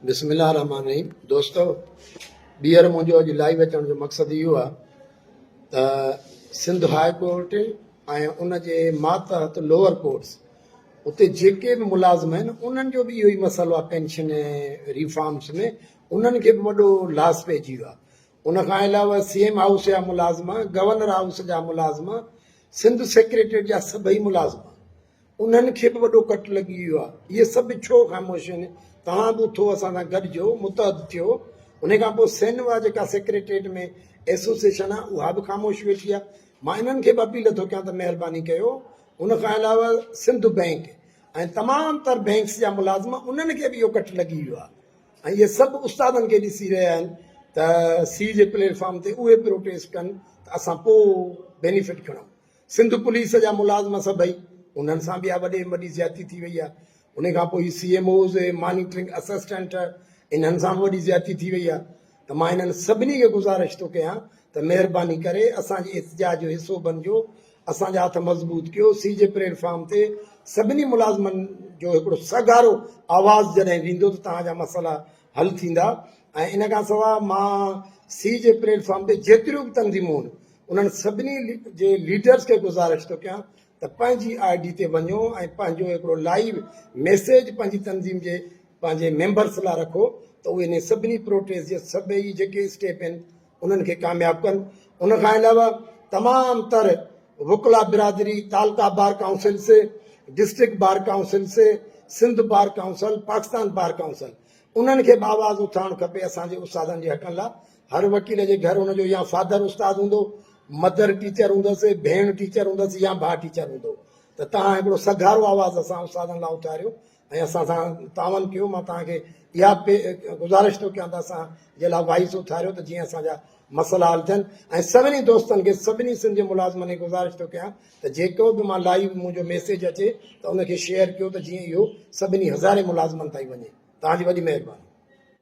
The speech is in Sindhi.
بسم الله الرحمن الرحيم دوستو ٻيهر منهنجو اڄ لائيو اچڻ جو مقصد اهو آهي ته سنڌ هاء ڪورٽ ۽ ان جي ماتحت لوور ڪورٽس اتي جيڪي به ملازم آهن انهن جو به اهو ئي مسئلو آهي پينشن ۽ ريفارمس ۾ انهن کي به وڏو لاس پئجي ويو آهي ان کان علاوه سی ايم هائوس جا ملازم گورنر هائوس جا ملازم سنڌ سيڪريٽريٽ جا سڀئي ملازم انهن کي به وڏو ڪٽ لڳي ويو آهي. اهي سڀ به ڇو خاموش آهن؟ توهان به اٿو اسان سان گڏجو، متحد ٿيو. انهيء کان پوء سينوا جيڪا سيڪريٽريٽ ۾ ايسوسيئيشن آهي، اها به خاموش ويٺي آهي. مان انهن کي به اپيل ٿو ڪيان ته مهرباني ڪيو ان کان علاوه سنڌ بئنڪ ۽ تمام تر بئنڪس جا ملازم انهن کي به اهو ڪٽ لڳي ويو آهي ۽ اهي سڀ استادن کي ڏسي رهيا آهن ته سي جي پليٽ فارم تي اهي پروٽيسٽ ڪن ته اسان پوء بينيفٽ کڻون. سنڌ پوليس جا ملازم سڀئي انهن سان به اها وڏي ۾ وڏي زيادتي ٿي وئي آهي ان کان پوء C M Os monitoring assistant انهن سان به وڏي زيادتي ٿي وئي آهي ته مان انهن سڀني کي گذارش ٿو ڪيان ته مهرباني ڪري اسان جي احتجاج جو حصو بنجو اسان جا هٿ مضبوط ڪيو سي جي پليٽ فارم تي سڀني ملازمن جو هڪڙو سگهارو آواز جڏهن ويندو ته توهان جا مسئلا حل ٿيندا ۽ ان کان سواء مان سي جي پليٽ فارم تي جيتريون به تنظيمون انهن سڀني جي ليڊرز کي گذارش ٿو ڪيان ته پنهنجي آء ڊي تي وڃو ۽ پنهنجو هڪڙو لائيو ميسيج پنهنجي تنظيم جي پنهنجي ميمبرز لاء رکو ته اهي انهي سڀني پروٽيسٽ جي سڀئي جيڪي اسٽيپ آهن انهن کي ڪامياب ڪن ان کان علاوه تمام تر وڪلا برادري تعلقه بار ڪائونسل سي ڊسٽرڪٽ بار ڪائونسل سي Sindh bar council Pakistan bar council انهن کي به آواز اٿارڻ کپي اسان جي استادن جي حقن لاء هر وڪيل جي گهر ان جو يا فادر استاد هوندو، مدر ٽيچر هوندس، ڀيڻ ٽيچر هوندس يا ڀاء ٽيچر هوندو ته توهان هڪڙو سگهارو آواز اسان استادن لاء اٿاريو ۽ اسان سان تعاون ڪيو مان توهان کي اها گذارش ٿو ڪيان ته اسان جي لاء وائس اٿاريو ته جيئن اسان جا مسئلا حل ٿين ۽ سڀني دوستن کي سڀني سنڌ جي ملازمن کي گذارش ٿو ڪيان ته جيڪو به مان لائيو منهنجو ميسيج اچي ته ان کي شيئر ڪيو ته جيئن اهو سڀني هزارين ملازمن تائين وڃي توهان جي وڏي مهرباني